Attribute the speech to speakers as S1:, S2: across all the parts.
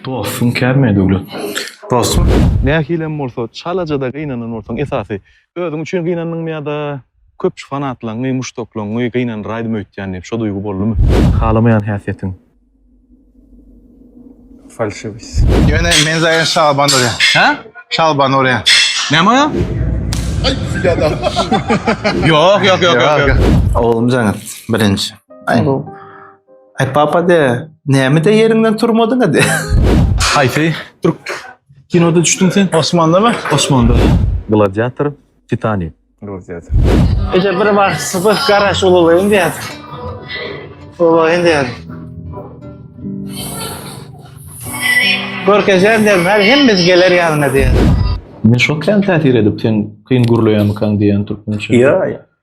S1: Dostuň kärmi Döwlet? Dostum,
S2: nähilem bolsa
S1: çalaja-da gynanan bolsaň, esasy, özüň üçin gynandyňmy ýa-da köpçi fanatlaňňy, muşdaklaňňy gynandyraýdym öýtýän diýip, şo duýgy boldumy? Halamaýan häsiýetiň.
S2: Falşywist. Ýöne men zaýan şalban urýan. Hä? Şalban
S1: urýan.
S2: Näme urýan?
S1: Aý, ýa-da. Ýok, ýok, ýok, ýok. Oglum
S2: Jaňat, birinji. Aý. Ay papa de, näme de yerinden turmadın hadi. Haýsy
S1: türk kinoda düşdüň sen? Osmanda mı? Osmanda. Gladiator, Titanik. Gladiator.
S2: Ece bir var sıfır garaş olayım diye. Olayım diye. Görkezen derim her hemimiz gelir yanına diye. Men şok
S1: kän täsir edip sen kyn gürleýärmikäň diýen türkmençe. Ýa, ýa.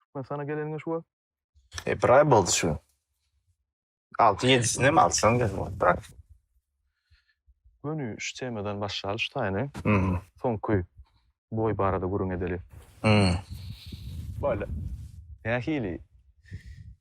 S1: Türkmenistana geleniňe şu wagt? E, bir aý
S2: boldy şu. Altı yedisini hem alsan gel bırak. Gönü
S1: şu temadan başlayalı şu tayını. Hmm. Soňky boy barada gürüň edeli. Hmm. Böyle. Nähili?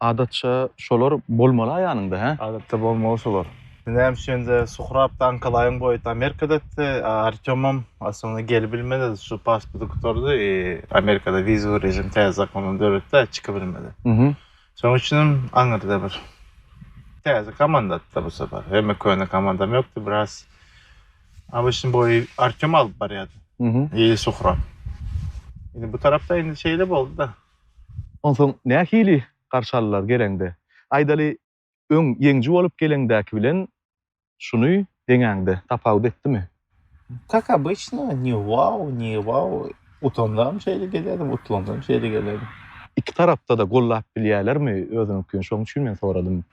S2: Adatça
S1: şolar bolmaly-a ýanyňda, hä? Adatça bolmaly şolar.
S2: Näme üçin-de, Suhrab da Ankalaýyň boýuty Amerikadady, a Artýomam aslynda gelip bilmedi, şu pasporty gutardy, Amerikada wizowy režim täze zakondan döretdi-ä, çykyp bilmedi. Şonuň üçin hem aňyrda bir täze komandady-da bu sapar. Hemme köne komandam ýokdy, biraz ABŞ-nyň boýy Artýom alyp barýardy, ýa-da Suhrab. Indi bu tarapda indi şeýle boldy-da. Onsoň
S1: nähili garşy aldylar geleňde? Aýdaly, öň ýeňiji bolup geleňdäki bilen şuny deňäňde tapawut etdimi? Kak
S2: obyçno, ni wao, ni wao. Utandam şeýle gelerdim, utlandam şeýle gelerdim. Iki tarapda-da
S1: gollap bilýärlermi özüniňkini? Şonuň üçin men soradym.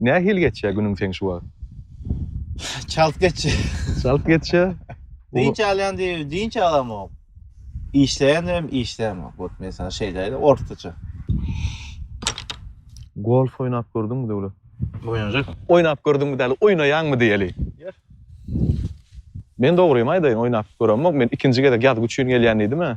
S2: Nähili
S1: geçýär günüň seň şu wagt?
S2: Çalt geçýär. Çalt geçýär.
S1: Dynç alýan
S2: diýip dynç alamok. Işleýändem işleýämok. Wot mesalan şeýle-de ortaça.
S1: Golf oýnap gördüňmi Döwlet? Oýnajak.
S2: Oýnap gördüňmi
S1: däl, oýnaýaňmy diýeli. Ýer. Men dogrymy aýdaýyn, oýnap göremok. Men ikinji gezek ýazgy üçin gelýän diýdim-ä.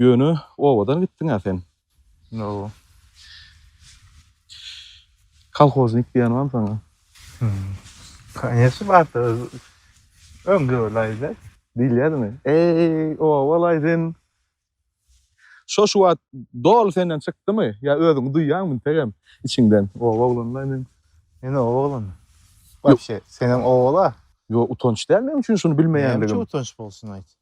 S1: Ýöne obadan gitdiň-ä sen. Hawa. Kolhoznik diýen bamy saňa? Kanyesny
S2: barsa öz öňde bolaýda. Diýilýädimi?
S1: Eý, oba bolaý sen. Şo şu wagt doly senden çykdymy? Ýa özüňi duýýaňmy integem içiňden? Oba oglany-laý men. Men oba
S2: oglany. Wapşe, senem oba-la. Ýok, utanç däl
S1: meň üçin şuny bilmeýänligim. Näme üçin utanç
S2: bolsun
S1: aýt?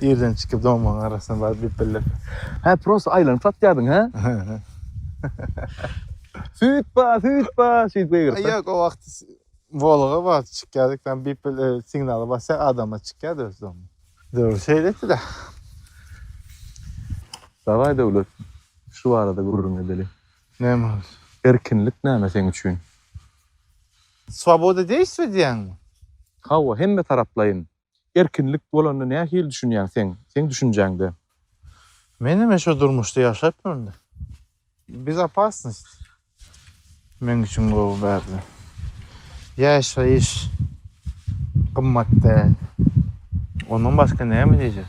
S1: Irden
S2: çykyp doňmaň arasyna baryp dep bellep. Hä prosta
S1: aýlanyp satýardyň hä? Süýt ba, süýt ba, şeýdip gygyryp. Ýok o wagt
S2: Volga bar çykýardyk ben bip signaly basýar adama çykýardy öz doňmy. Döwür şeýle etdida.
S1: Dawai Döwlet şu barada gürrüň edeli. Näme boldy?
S2: Erkinlik näme
S1: seň üçin? Swoboda
S2: deýsizmi diýýäňmi? Hawa hemme
S1: taraplaýyn. Erkinlik bolanda nähili düşünýäň seň, seň düşünjäňde? Men
S2: hemen şo durmuşda ýaşapdyryn. Bezopasnost meň üçin gowy bärde. Ýaşaýyş gymmat däl. Ondan başga näme diýjek?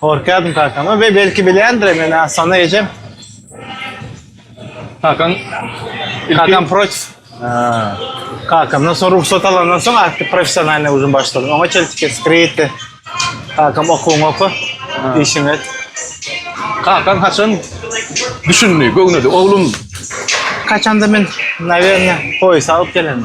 S2: Gorkaýdym kakama we belki bilýändir meni Asana ejem.
S1: Kakam kakam
S2: proç. Kakamdan soň rugsat alandan soň artık professionalny uzun başladym. Oňa çeltik skriti. Kakam okuwyňy oku. Işiňi et. Kakam
S1: haçan düşündi, göwnedi, oglum. Kaçanda
S2: men, nawerno, poýsa alyp gelen.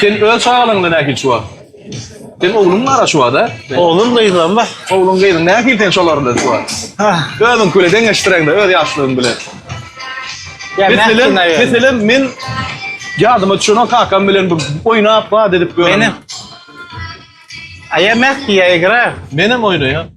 S1: Sen öz çagalaryňda nähili çuwa? Sen ogluň bara çuwa da? Oglum gyzlam
S2: bar. Ogluň gyzyň nähili sen
S1: şolar bilen çuwa? Özüňki bilen deňeşdireňde öz ýaşlygyň bilen.
S2: Meselem, meselem
S1: men ýadyma düşenok kakam bilen bir oýnap, bat edip ýören. Menem.
S2: Aýa mäh diýä egra. Menem oýnaýan.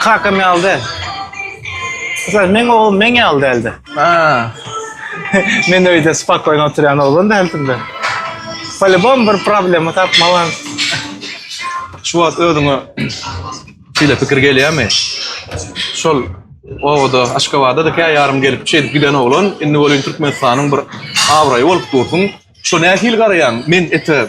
S2: Kakam ýaly däl. Sen meň oglum meň ýaly däldi. Ha. Men öýde spakoýno oturýan oglan däldim-de. Polibom bir problema tapmalan.
S1: Şu wagt özüňe şeýle pikir gelýärmi? Şol obada, Aşgabada-da kä ýarym gelip şeýdip giden oglan, indi welin Türkmenistanyň bir abraýy bolup dursuň. Şo nähili garaýaň? Men ete.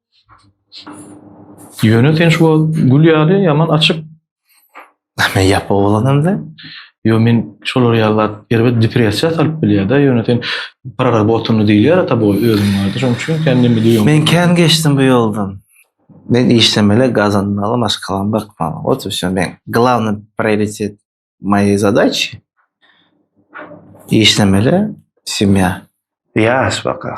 S1: Ýöne sen şu wagt gül ýaly ýaman açyk.
S2: Men ýapyk oglanam-da. Ýo men
S1: şolar ýaly zat erbet depressiýa salyp bilýär-de. Ýöne sen prarabotanny diýilýär tabu özüň barada. Şonuň üçin kän neme diýýoň. Men kän geçdim bu
S2: ýoldan. Men işlemeli, gazanmaly, maşgalam bakmaly. Wot i wsё. Men glawny prioritet moýi zadaçi işlemeli, semýa. Ýaş baka.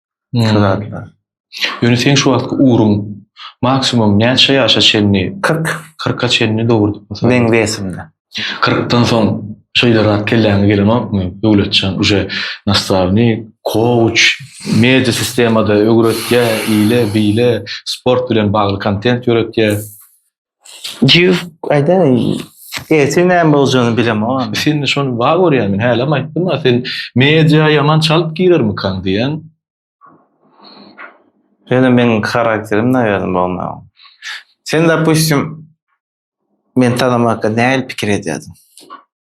S2: Şu zatlar. Ýöne
S1: seň şu wagtky ugruň maksimum näçe ýaşa çenli? 40. 40-a çenli dogrudyp bolsa. Meň wesimde.
S2: 40-dan soň
S1: şeýle zat kelläňe gelenokmy, Döwletjan, uje nastavnik, kouç, media sistemada öwretýär, ile, bile, sport bilen bagly kontent ýöretýär.
S2: Jüf, aýda, ertir näme boljagyny bilemok. Sen de şony bar
S1: görýän, men hälem aýtdym, a sen media ýaman çalyp girermikaň diýen.
S2: Ýöne meniň karakterim naýadan bolmaýar. Sen dopustim meni tanamakda nähili pikir edýärdiň?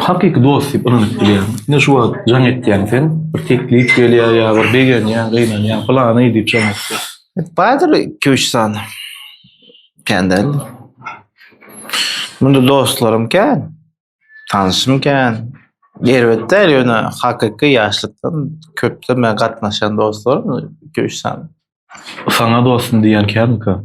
S1: Hakyky dost diýip ynanyp bilýän. Ine şu wagt jaň etýäň sen, bir teklip gelýär ýa bir begenýäň, gynanýaň, pylany diýip jaň etýäň. Bardyr
S2: iki-üç sany. Kän däl. Munda dostlarym kän. Tanşym kän. Erbet däl, ýöne hakyky ýaşlykdan köpden bäri gatnaşýan dostlarym iki-üç sany. Saňa
S1: dostum diýýän känmika?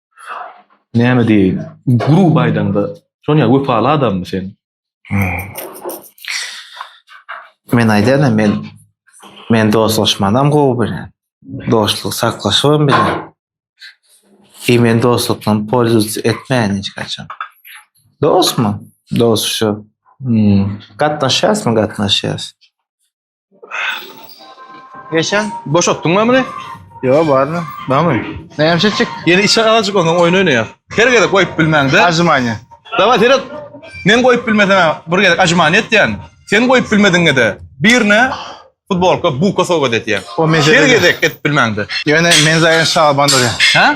S1: Näme diýeýin? Grup aýdaňda, Sonya wepaly adammy sen?
S2: Men aýdana men men dostlaşmanam gowy bilen. Dostluk saklaşybam bilen. Ki men dostlukdan polzuz etmeýän hiç haçan. Dostmy? Dost şu. Gatnaşýasmy? Gatnaşýas. Geçen boşatdyň mı bunu?
S1: Yo barmy?
S2: Barmy? Näme çekjek? Yeni işe azıcık ondan
S1: oyun oynaýar. Her gezek koyup bilmäň de. Ajmanya. Dava
S2: seret.
S1: Men koyup bilmesem bir gezek ajmany etýän. Sen koyup bilmediňe de birine futbolka buka sowgat etýän. O mesele Her de- gezek
S2: et bilmäň de.
S1: Yöne men zaýan
S2: şaban durýan. Ha?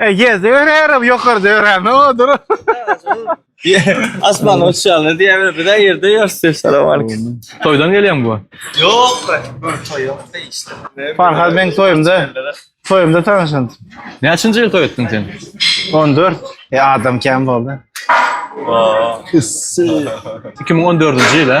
S2: E, ýerde örärem, ýokarda örän, ne odur?
S3: Asman uçýanlar diýýärler, biz ýerde ýörse, salam aleyküm. Toýdan gelýän bu. Ýok,
S1: bir toý ýok işte.
S3: Farhad men
S2: toýumda, toýumda tanşan. Näçinji ýyl toý
S1: etdiň sen? 14.
S2: E, adam kän boldy.
S1: 2014-nji ýyl, hä?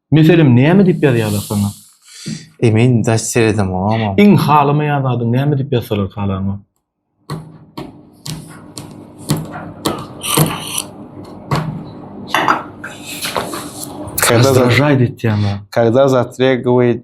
S2: Meselem näme
S1: diýip ýazýarlar saňa? Emin
S2: daş seredem oňa. Iň halamaýan zadyň
S1: näme diýip ýazsalar halaňa? Razdражaýt etýän zat. Kada zatrýa
S2: gowit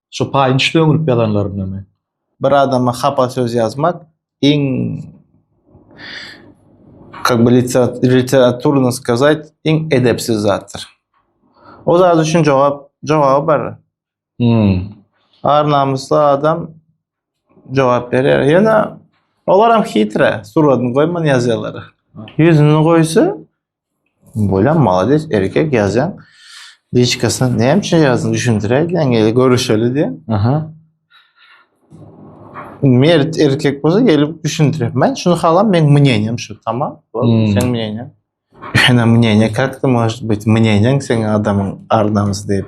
S1: Şu paýynç döňrüp ýazanlarynamy? Bir adama
S2: hapa söz ýazmak iň kak by literaturno skazayt iň edepsiz zatdyr. O zat üçin jogap jogaby bar. Hum. Ar namysly adam jogap berýär. Ýöne olaram hitre, suratyny goýman ýazýarlar. Ýüzüni goýsa Bolýan malades erkek ýazýan. Liçkasyna näme ýazdym düşündiräýdiň ýa görüşeli diýen. Aha. Mert erkek bolsa gelip düşündirip. Men şunu halam men mneniýem şu tamam. Hmm. Sen mneniýe. Ana mneniýe kakda moş bit mneniýe sen adamyň arnamysy diýip.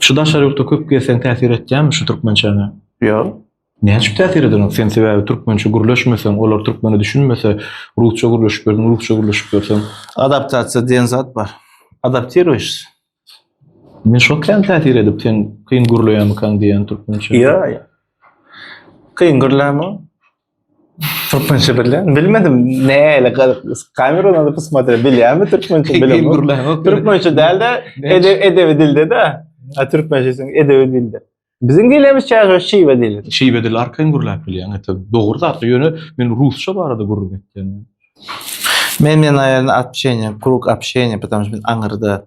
S2: Şu daşary
S1: ýurtda köp gezseň täsir etýärmi şu türkmençäňe? Ýok.
S2: Näçüp täsir
S1: ederoň? Sen sebäbi türkmençe gürleşmeseň, olar türkmene düşünmese, rusça gürleşip ýörseň, rusça gürleşip ýörseň. Adaptasiýa diýen
S2: zat bar. Adaptiruýşs.
S1: Men şo kän täsir edip, sen kyn gürleýärmikaň diýýän türkmençe. Ýa-ýa.
S2: Kyn gürlämiň. Türkmençe bilýän. Bilmedim. Näle kamera onda posmaträ bilýänmi türkmençe bilmedim. Türkmençe
S1: dälde
S2: edebi dilde de. A türkmençe sen edebi dilde. Biziň dilimiz çaýy şiwe dili. Şiwe dili arkaýyn gürläp
S1: bilýän. Ete dogry zat. Ýöne men rusça barada gürrüň etdim. Men
S2: men aýalyny atşeýne, krug atşeýne, biziň aňyrda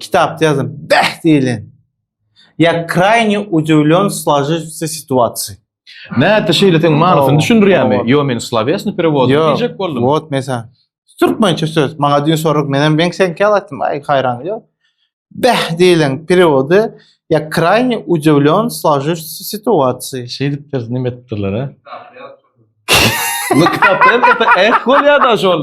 S2: Kitapda ýazan bäh diýlen. Ýa krayny udewlon slajyjysa situasiýa. Näte
S1: şeýle sen manysyny düşündirýärmi? Ýo men slovesni perewod diýjek boldum. Wot mesa.
S2: Türkmençe söz. Maňa düýn sorak men hem ben sen kel aýtdym. Aý haýran ýok. Bäh diýlen perewody ýa krayny udewlon slajyjysa situasiýa. Şeýdip biz näme
S1: etdiler ha? Bu kitapda hem eh bolýar da şol.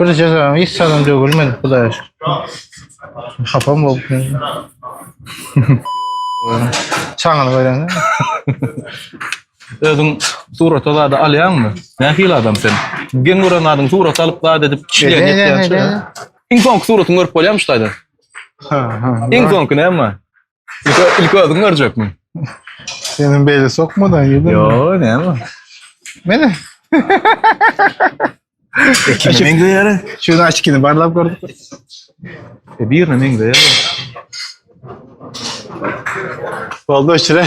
S2: Bir cezam hiç salam dögülmedi Hudaýa şükür. Hapam bolup. Çaňyny görende.
S1: Özüň surata zady alýaňmy? Nähili adam sen? Geň gören zadyň surat alyp zat edip kişiler Ne, ne, ne, ne, ne? Iň soňky suratyňy görüp bolýarmy şu taýdan? Ha, ha. Iň soňky näme? İlk, ilk özün görecek mi? Senin
S2: beyle sokmadan yedin mi? Yo ne ama.
S1: Mene. Ekine meňzeýär. Şunu açkini barlap
S2: gördük.
S1: E birine meňzeýär.
S2: Oldu şire.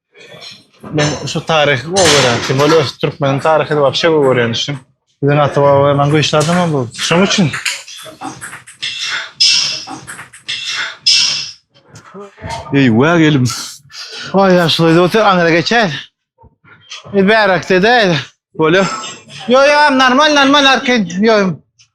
S2: Men şu taryhy gowy görýän. Kim bilen öz türkmeniň taryhy wapşe gowy görýän üçin. Biziň ata-babalar maňa güýçli adam hem boldy. Şoň üçin.
S1: Eý, wä gelim. Oý,
S2: ýaşuly otur, aňyra geçer. Ýa bärakde-de. Bolýa.
S1: Ýo, ýo,
S2: normal, normal arkin. Ýo.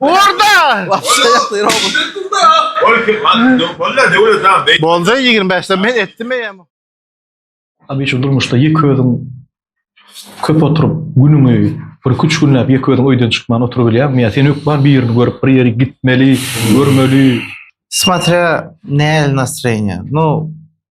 S2: Orada! Wapşa ýakdy robot. Ol kim? Bollar döwlet ha. Bolda 25-de men etdim eýem.
S4: Abi şu durmuşda ýeke özüň köp oturyp günüňi bir iki üç günläp ýeke özüň öýden çykman oturybilýäňmi ýa sen hökman birini görüp bir ýeri gitmeli görmeli. Smatrýa
S2: nähili nastroýeniýa. Nu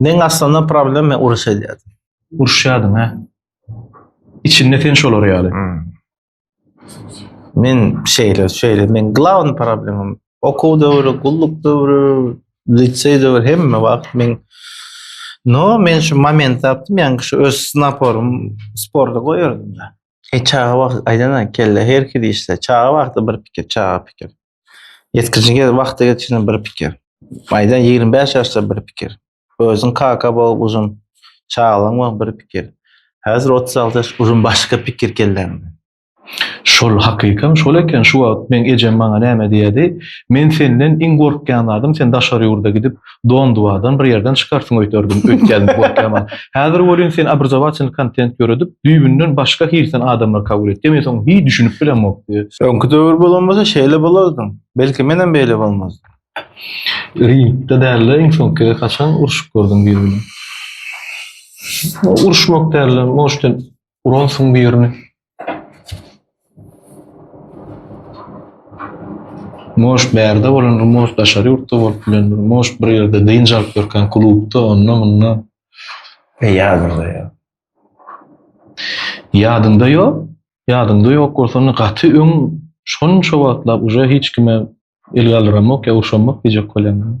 S2: Men aslynda problem men uruş edýärdim. Uruşýardyň ha.
S4: Içinde sen şolar ýaly. Hmm.
S2: Men şeýle, şeýle, men glawny problemim. Okuw döwri, gulluk döwri, liseý döwri hemme wagt men No, men şu moment tapdym, ýa-ni şu öz naporym sporda goýardym da. E çaga wagt aýdana kelle her kili işde. Çaga wagty bir pikir, çaga pikir. Ýetgijige wagty geçen bir pikir. Maýdan ýigrimi bäş ýaşda bir pikir. Özüň kaka bol guzym, çagalygyň bol bir pikir. Häzir otuz alty ýaş uzyn başga pikir kelläňde. Şol
S4: hakykam şol eken şu wagt meň ejem maňa näme diýädi, men senden iň gorkýan zadym sen daşary ýurda gidip Donduwadan bir ýerden çykarsyň öýderdim, öýtýärdim gorkýaman. Häzir welin sen obrazowatyny kontent ýöredip, düýbünden başga hilten adamlary kabul etýä, men soň hiý düşünip bilemokdy. Öňki döwür bolan bolsa
S2: şeýle bolardyň. Belki menem beýle bolmazdym.
S4: Ringde dälde iň soňky gezek haçan urşup gördüň biri bilen? Urşmak dälde, moşten Uransyň birini. Moş bärde bolan Rmos daşary ýurtda bolup bilendir. Moş bir ýerde dynç alyp ýörkän klubda, onda munda. E
S2: ýadymda ýok. Ýadynda
S4: ýok. Ýadynda ýok bolsa onda gaty öň şonça wagtlap uje hiç kime el galdyramok ýa urşamok diýjek bolýan.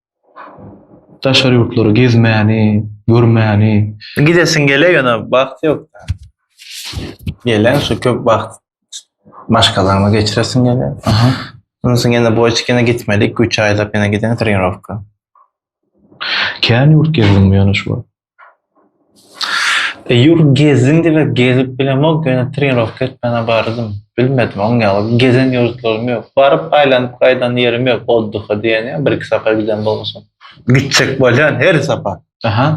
S4: Daşary ýurtlary gezmäni, görmäni. Gidesiň
S2: gele ýöne wagt ýok däl. Geleň şu köp wagt maşgalaňda geçiresiň gele. Aha. Ondan
S4: soň ýene
S2: boýçik ýene gitmeli iki üç aýlap ýene gideň trenirowka.
S4: Kän ýurt gezdiňmi ýöne şu wagt?
S2: E ýok gezdim diýmek gezip bilemok ýöne trenirowka etmäne bardym. Bilmedim oň ýaly gezen ýurtlarym ýok. Baryp aýlanyp gaýdan ýerim ýok oddyha diýen ýa birki sapar giden bolmuşam. Gitjek bolýan her sapar. Aha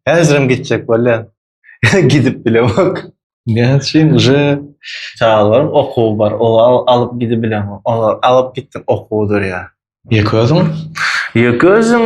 S4: häzirem gitjek
S2: bolýan. Ýöne gidip bilemok. Näme üçin
S4: uje çagalarym
S2: okuw bar olar alyp gidip bilemok. Olar alyp gitdim okuw durýa. Ýeke özüň?
S4: Ýeke
S2: özüm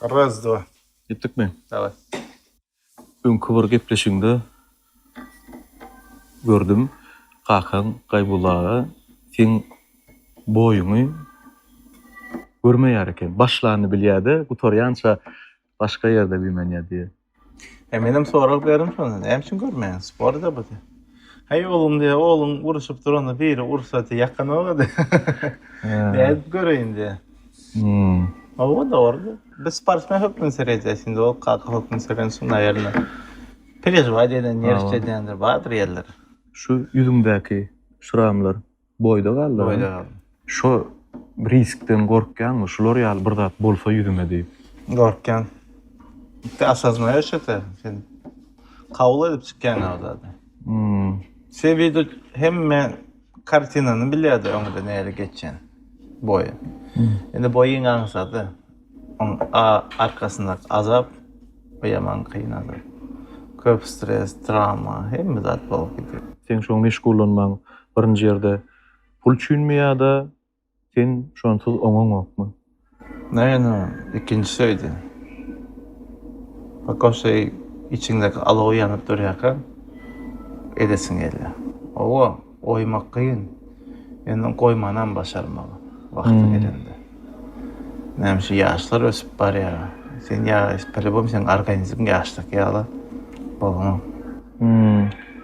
S2: Raz, dva. Gitdikmi?
S4: Daway. Öňki bir gepleşigiňde gördüm, kakaň Gaýbulla aga seň boýuňy görmeýär eken. Başlanyny bilýär-de, gutarýança başga ýerde güýmenýär diýýär. He menem
S2: sorag berim şony näme üçin görmeýäň sporda bu diýýär. Heý oglum diýýär ogluň uruşyp duranda biri ursa diýýär ýakanok-a diýýär. Nädip göreýin diýýär. Hawa dogry diýýär. Biz sportsmen hökmünde seredýäs indi ol kaka hökmünde serensoň naýerine perežiwat edýän nerwçi edýändir bardyr ýerleri. Şu
S4: ýüzüňdäki şramlar Boýda galdyr. Boýda galdyr. Şo riskden gorkýaňmy? Şular ýaly bir zat bolsa ýüzüme diýip. Gorkýan.
S2: Tä asazmaýa şeýte. Sen kabul edip çykýaň o zady. Hum. Sen wida hemme kartinany bilýärdi öňde näle geçýän. Boýa. Indi boýyň aňsady. Oň a arkasyndaky azap bu ýaman kyn azap. Köp stres, trawma, hemme zat bolup gidýär. Seň şoň meşgullanmaň
S4: birinji ýerde pul üçinmi ýada sen şonsuz oňaňokmy? Naýynam
S2: ikinjisi öýde. Pako şeý içiňdäki alow ýanyp durýarka edesiň gelýär. Owo. Goýmak kyn, indi goýmanam başarmaly wagty gelende. Näme şu ýaşlar ösüp barýar. Sen ýaş, polýubom seniň organizmiň ýaşdaky ýaly bolma.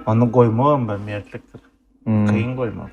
S2: Onda goýmagam bir mertlikdir. Kyn goýmak.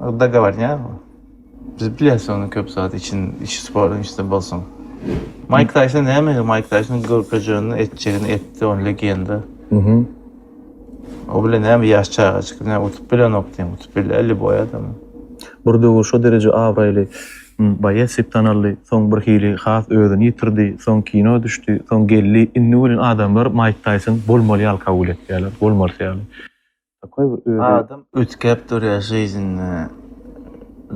S2: Dogovornya bu. Biz bilýäs onu köp zat için iç sporun işte bolsun. Mike Tyson näme? Mike Tyson görkezjegini etjegini etdi on legenda. Mhm. O bile näme ýaş çagajyk ne utup bilenok diýen utup bilýär lýuboý adam. Bir döwür
S4: şo dereje abraýly boýes diýip tanaldy, soň bir hili has özüni ýitirdi, soň kino düşdi, soň geldi, indi welin adamlar Mike Tyson bolmaly ýaly kabul etýärler, bolmalysy ýaly. Takoý bir özi. Adam üýtgäp
S2: durýar žyznda,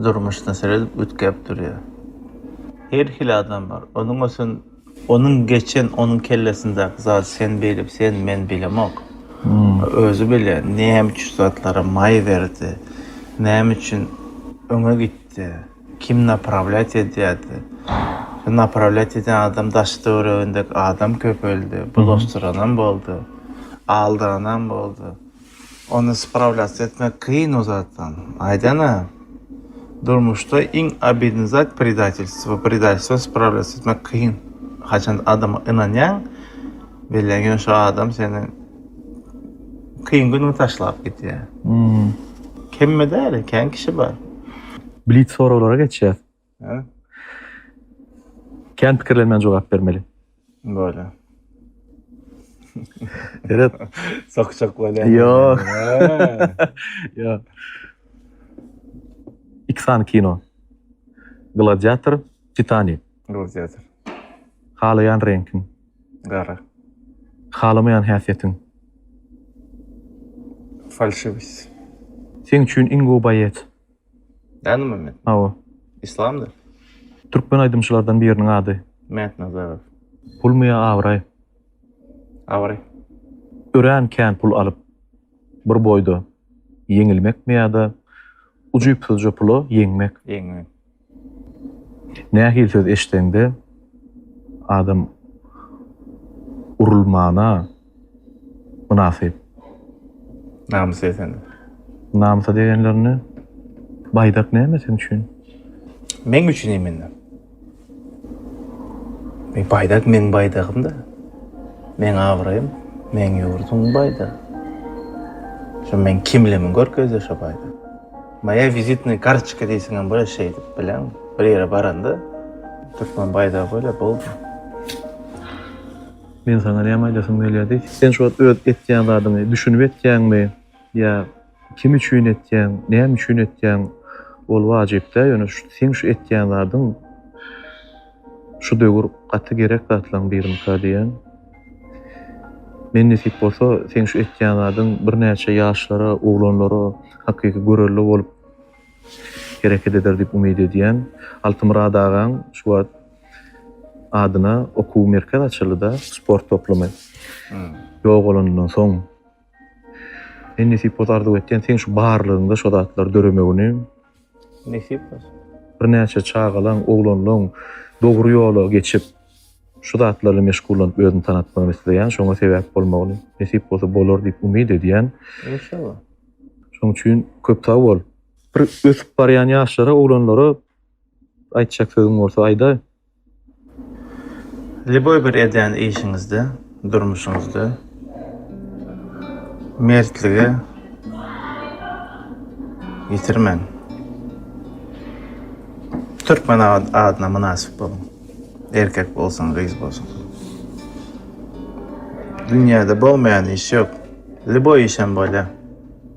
S2: durmuşda seredip üýtgäp durýar. Her hili adam bar. Onuň ösen, onuň geçen, onuň kellesindäki zady sen bilip, sen, men bilemok. Özi bilýär, näme üçin zatlara maý berdi, näme üçin öňe gitdi. Kim naprawlýat edýärdi? Şu naprawlýat edýän adam daş töweregindäki adam köpeldi, bulaşdyranam boldy, aldyranam boldy. Ony sprawlýatsiýa etmek kyn o zatdan. Aýdan-a, durmuşda iň obidnyý zat predatelstwo. Predatelstwony sprawlýatsiýa etmek kyn. Haçan adama ynanýaň, bilýän ýöne şo adam seni. Kyn günüňi taşlap gitýär. Hmm. Kemme däl, kän kişi bar. Blitz
S4: soraglara geçýäs. Hä? Kän pikirlenmän jogap bermeli.
S2: Bolýar.
S4: Eret. Sokjak
S2: bolýar. Ýok.
S4: Ýok. Iki sany kino. Gladiator, Titanik.
S2: Gruziýadyr. Halaýan
S4: reňkiň. Gara.
S2: Halamaýan
S4: häsiýetiň. Falşiwist. Seň üçin iň gowy baýet. Danymy
S2: men? Hawa.
S4: Islamdyr.
S2: Türkmen
S4: aýdymçylardan biriniň ady. Mätnazarow.
S2: Pulmy ýa
S4: abraý?
S2: Abraý.
S4: Örän kän pul alyp, bir boýda ýeňilmekmi ýa-da ujypsyzja pula ýeňmek? Ýeňmek. Nähili söz eşitseňde adam urulmana mynasyp.
S2: Namys desene. Namysa
S4: degenlerini baýdak näme sen üçin? Meň
S2: üçin imende. Meň baýdak meň baýdagym da. Meň abraýym meň ýurduň baýdagy. Şu meň kimlimiň görkezdi şu baýdak. Moýa wizitnaý kartoçka diýseňem bolar şeýdip bileň. Bir ýere baranda türkmen baýdagy bolýar, boldy.
S4: Men saňa näme aýdasym gelýär diý. Sen şu wagt öz etýän zadyňy düşünip etýäňmi ýa kim üçin etýäň, näme üçin etýäň ol wajypdä ýöne şu seň şu etýän zadyň. Şu döwür gaty gerek zatlaň birinikä diýýän. Men nesip bolsa seň şu etýän zadyň birnäçe ýaşlara, oglanlara hakyky görelde bolup hereket eder diýip umyt edýän. Altymyrat agaň şu wagt adyna okuw merkez açyldy-da, sport toplumy ýogalanyndan soň. Men nesip bolsa arzuw etýän seň şu barlygyňda şo zatlar döremegini. Nesip
S2: bolsun. Birnäçe
S4: çagalaň, oglanlaň dogry ýola geçip, şu zatlar bilen meşgullanyp özüni tanatmagyny isleýän, şoňa sebäp bolmagyny. Nesip bolsa bolar diýip umyt edýän. Inşallah.
S2: Şoň
S4: üçin köp sag bol. Bir ösüp barýan ýaşlara, oglanlara aýtjak sözüň bolsa aýdaý.
S2: Lýuboý bir edýän işiňizde, durmuşyňyzda mertligi ýitirmäň. Türkmen adyna mynasyp boluň. Erkek bolsun, gyz bolsun. Dünýäde bolmaýan iş ýok. Lýuboý işem bolýar.